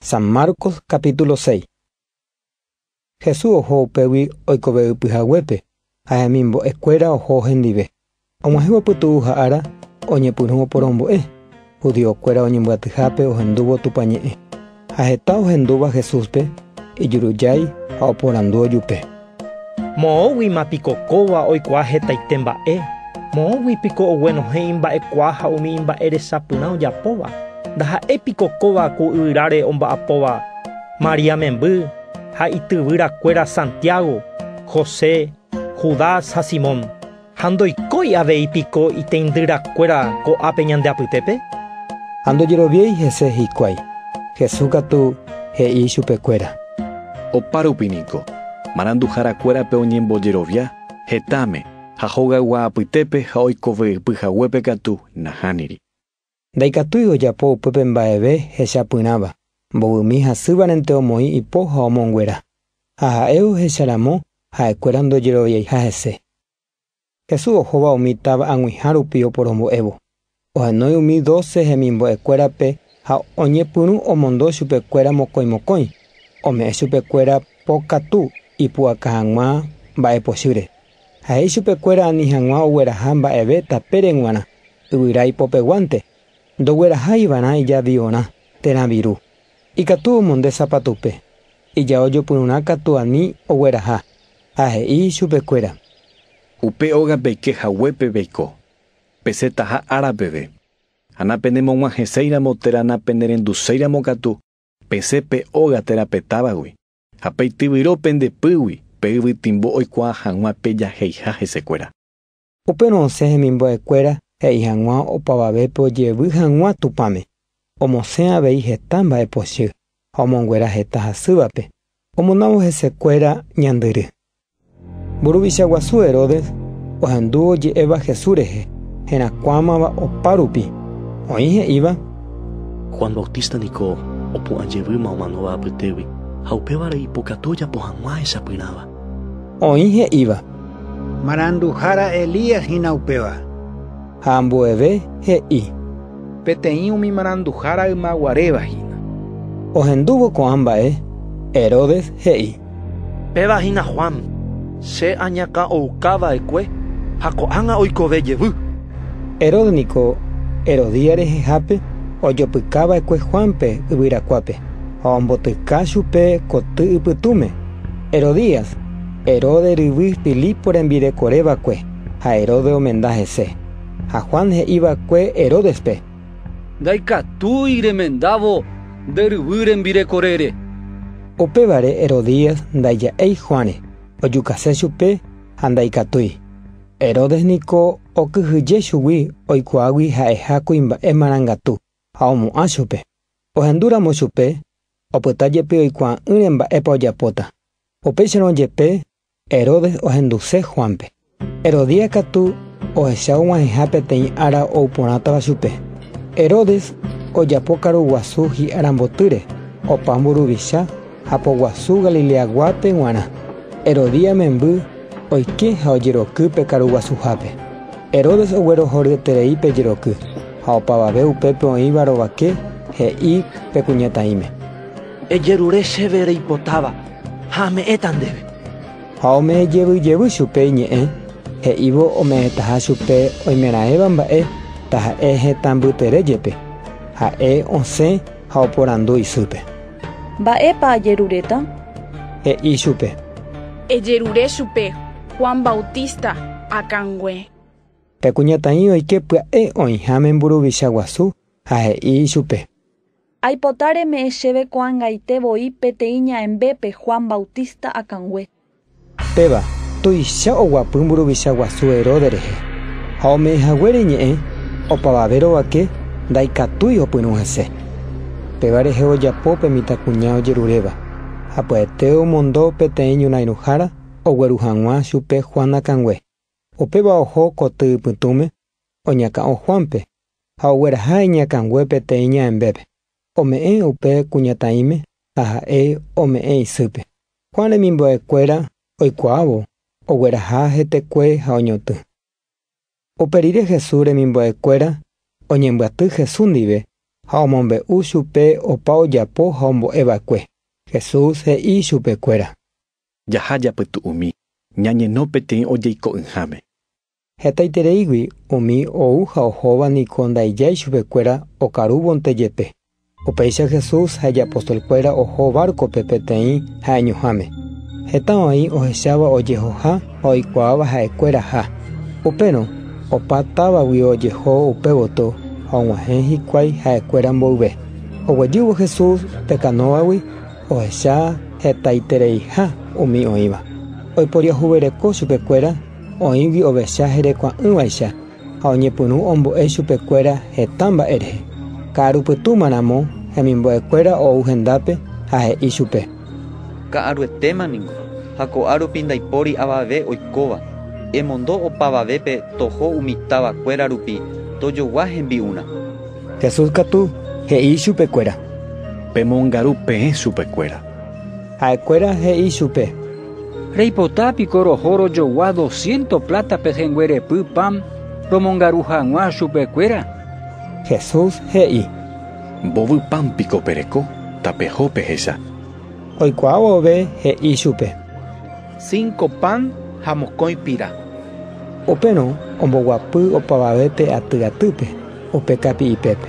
San Marcos capítulo 6. Jesús oho upégui oikovevy pyhaguépe ha hemimbo'e kuéra oho hendive. Og̃uahẽvo pytu'u ha ára oñepyrũ oporombo'e, judío kuéra oñembyatyhápe ohendúvo Tupã ñe'ẽ. Ha heta ohendúva Jesúspe ijurujái ha oporandu ojupe. Moõguima piko kóva oikuaa hetaite mba'e? Moõgui piko oguenohẽ imba'ekuaa ha umi imba'e resapyrã ojapóva? Ndaha'éi piko kóva ku yvyráre omba'apóva María memby ha ityvyrakuéra Santiago, José, Judas ha Simón? Ha ndoikói avei piko iteindyrakuéra ko'ápe ñande apytépe? Ha ndojeroviái hese hikuái. Jesús katu he'i chupekuéra. Opárupi niko, maranduhárakuérape oñembojerovia, hetãme, ha hogaygua apytépe ha oikove'ypy haguépe katu nahániri. Ndaikatúi ojapo upépe mba'eve hechapyrãva, mbovymi hasývarente omoĩ ipo ha omonguera, ha ha'e ohecha ramo ha'ekuéra ndojeroviaiha hese. Jesús ohóva umi táva ag̃uiha rupi oporombo'évo, ohenói umi doce hemimbo'ekuérape ha oñepyrũ omondo chupekuéra mokõi mokõi, ome'ẽ chupekuéra po katu ipu'aka hag̃ua mba'epochýre. Ha he'i chupekuéra ani hag̃ua ogueraha mba'eve tapére g̃uarã, yvyra ipopeguánte, ndogueraha ivarã ijaviorã térã viru. Ikatu omonde sapatupe, ijao jopyrũrã katu ani ogueraha, ha he'i chupekuéra. Upe óga peike haguépe peiko, pesetaha ára peve, ha napenemog̃uahẽséiramo térã napenerenduséiramo katu pesẽ pe óga térã pe távagui, Ha peityvyro pende pýgui, pe yvytimbo oikuaa hag̃ua pe jaheiha hesekuéra. Upérõ osẽ hemimbo'ekuéra he'i hag̃ua opavavépe ojevy hag̃ua Tupãme, omosẽ avei heta mba'epochy ha omonguera heta hasývape, omondávo hesekuéra ñandyry. Mburuvicha guasu Herodes ohendu oje'éva Jesús rehe, herakuãmava opárupi. Oĩ he'íva. Juan Bautista niko opu'ã jevýma omanóva apytégui, ha upévare ipokatu ojapo hag̃ua ahechapyrãva. Oĩ he'íva. Maranduhára Elías hína upéva. ha ambueve he'i. Peteĩ umi maranduhára ymaguaréva hína. Ohendúvo ko'ã mba'e, Herodes he'i. Péva hína Juan, che añakã ouka va'ekue ha ko'ág̃a oikove jevy. Herodes niko Herodía rehehápe ojopyka va'ekue Juánpe yvyrakuápe ha ombotyka chupe koty ypytũme. Herodías, Herodes ryvy Filipo rembirekore va'ekue. ha Herodes omenda hese. Ha Juan he'i va'ekue Herodespe: “Ndaikatúi remendávo nde ryvy rembirekorére”. Upévare Herodías ndaija'éi Juánre, ojukase chupe ha ndaikatúi. Herodes niko okyhyje chugui oikuaágui ha'eha kuimba'e marangatu ha omo'ã chupe. Ohendúramo chupe, opyta jepe oikuaa'ỹre mba'épa ojapóta. Upéicharõ jepe, Herodes ohenduse Juánpe. Herodía katu ohecha og̃uahẽha peteĩ ára ou porãtava chupe. Herodes ojapo karu guasu hi'a rambotýre, opa mburuvicha ha poguasu Galileaguápe g̃uarã. Herodía memby oike ha ojeroky pe karu guasuhápe. Herodes oguerohoryeterei pe jeroky, ha opavave upépe oĩva rovake he'i pe kuñataĩme. Ejerure chéve reipotáva. ha ame'ẽta ndéve. Ha ome'ẽ jevy jevy chupe iñe'ẽ, he'ívo ome'ẽtaha chupe oimeraẽva mba'e, taha'e hetã mbytere jepe. Ha'e osẽ ha oporandu isýpe. Mba'épa ajeruréta? He'i chupe. Ejerure chupe Juan Bautista akãngue. Pe kuñataĩ oike pya'e oĩháme mburuvicha guasu ha he'i ichupe. Aipota reme'ẽ chéve ko'ãngaite voi peteĩ ña'ẽmbépe Juan Bautista akãngue. Péva, tuicha oguapy mburuvicha guasu Herodes rehe, ha ome'ẽ haguére iñe'ẽ opavave rovake ndaikatúi opyrũ hese. Péva rehe ojapo pe mitãkuña ojeruréva, ha pya'ete omondo peteĩ ñorãirũhára ogueru hag̃ua chupe Juan akãngue. Upéva oho koty ipytũme oñakã'o Juánpe ha ogueraha iñakãngue peteĩ ñaembépe, ome'ẽ upe kuñataĩme ha ha'e ome'ẽ isýpe. Juan remimbo'ekuéra oikuaávo ogueraha hetekue ha oñotỹ. Upe rire Jesús remimbo'ekuéra oñembyaty Jesús ndive ha omombe'u chupe opa ojapo ha ombo'e va'ekue. Jesús he'i chupekuéra. Jaha japytu'umi, ñañeno peteĩ ojeiko'ỹháme. Hetaitereígui umi ou ha ohóva niko ndaijái chupekuéra okarúvonte jepe. Upéicha Jesús ha ijapostolkuéra oho várkope peteĩ ha'eñoháme. Heta oĩ ohecháva ojehoha ha oikuaáva ha'ekuéraha. Upérõ opa távagui ojeho upe gotyo ha og̃uahẽ hikuái ha'ekuéra mboyve. Oguejývo Jesús pe kanóvagui ohecha hetaitereiha umi oĩva. Oiporiahuvereko chupekuéra Oĩgui ovecha herekua'ỹvaicha ha oñepyrũ ombo'e chupekuéra heta mba'e rehe. Ka'aru pytũma ramo hemimbo'ekuéra ou hendápe ha he'i chupe. Ka'aruetéma ningo, ha ko'ã rupi ndaipóri avave oikóva. Emondo opavavépe toho umi távakuéra rupi tojogua hembi'urã. Jesús katu he'i chupekuéra. Pemongaru peẽ chupekuéra. Ha'ekuéra he'i chupe. Reipota piko roho rojogua dosciento pláta pehẽnguerepy pan romongaru hag̃ua chupekuéra? Jesús he'i. Mbovy pan piko pereko tapeho pehecha? Oikuaa vove he'i chupe. Cinco pan ha mokõi pira. Upérõ omboguapy opavavépe aty atýpe, upe kapi'ipépe.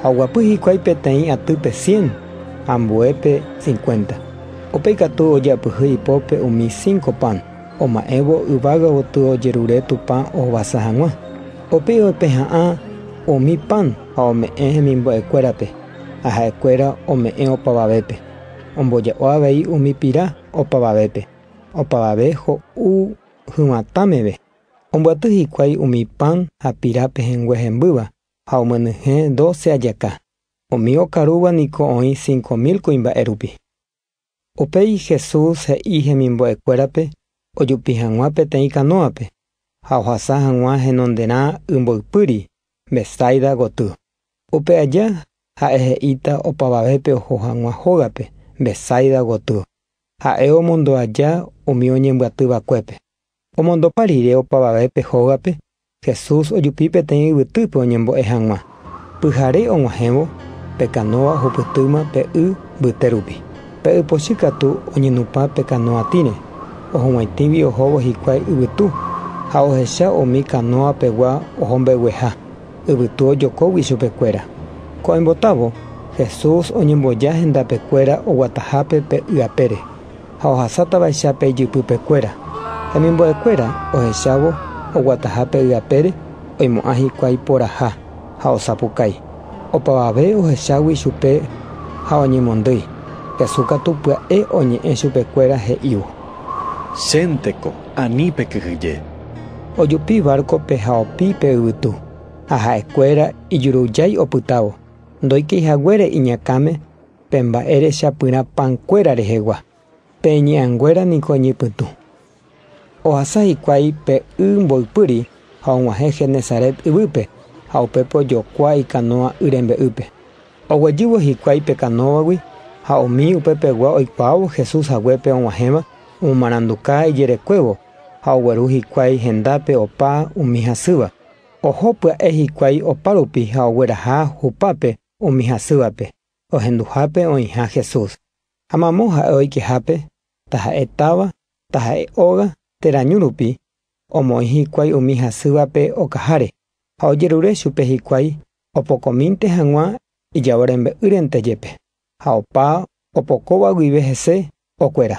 Ha oguapy hikuái peteĩ atýpe cien, ambuépe cincuenta. Upéi katu ojeapyhy ipópe umi cinco pan, oma'ẽvo yvága gotyo ojerure Tupã ohovasa hag̃ua. Upéi oipeha'ã umi pan ha ome'ẽ hemimbo'ekuérape, ha ha'ekuéra ome'ẽ opavavépe. Omboja'o avei umi pira opavavépe, opavave ho'u hyvatã meve. Ombyaty hikuái umi pan ha pira pehẽngue hembýva, ha omyenyhẽ doce ajaka, umi okarúva niko oĩ cinco mil kuimba'e rupi. Upéi Jesús he'i hemimbo'ekuérape ojupi hag̃ua peteĩ kanóape ha ohasa hag̃ua henonderã ymboypýri, Betsaida goty. Upe aja ha'e he'íta opavavépe oho hag̃ua hógape, Betsaida goty. Ha'e omondo aja umi oñembyaty vakuépe. Omondopa rire opavave pe hógape, Jesús ojupi peteĩ yvytýpe oñembo'e hag̃ua. Pyhare og̃uahẽvo, pe kanóa ohupytýma pe y mbyte rupi. Pe ypochy katu oñenupã pe kanóa tĩre, ohug̃uaitĩgui ohóvo hikuái yvytu, ha ohecha umi kanóa pegua oho mbegueha, yvytu ojokógui chupekuéra. Ko'ẽmbotávo, Jesús oñemboja hendape kuéra oguatahápe pe y apére. ha ohasátavaicha pe ijypypekuéra. Hemimbo'ekuéra ohechávo oguataha pe yvapére oimo'ã hikuái poraha ha osapukái. Opavave ohechágui chupe ha oñemondýi, Jesús katu pya'e oñe'ẽ chupekuéra he'ívo. Chénteko, ani pekyhyje. Ojupi várkope ha opi pe yvytu, ha ha'ekuéra ijurujái opytávo, ndoikeihaguére iñakãme. Pe mba'e rechapyrã pankuéra rehegua, pe iñe'anguéra niko iñypytũ. Ohasa hikuái pe y mboypýri ha og̃uahẽ Genesaret yvýpe ha upépe ojokua ikanóa y rembe'ýpe. Oguejývo hikuái pe kanóvagui ha umi upe pegua oikuaávo Jesús haguépe og̃uahẽva omomaranduka ijerekuévo ha ogueru hikuái hendápe opa umi hasýva. Oho pya'e hikuái opárupi ha ogueraha hupápe umi hasývape. ohenduhápe oĩha Jesús, ha mamo ha'e oikehápe, taha'e táva, taha'e óga térã ñu rupi, omoĩ hikuái umi hasývape okaháre, ha ojerure chupe hikuái opokomínte hag̃ua ijao rembe'ýrente jepe, ha opa opokóva guive hese okuera.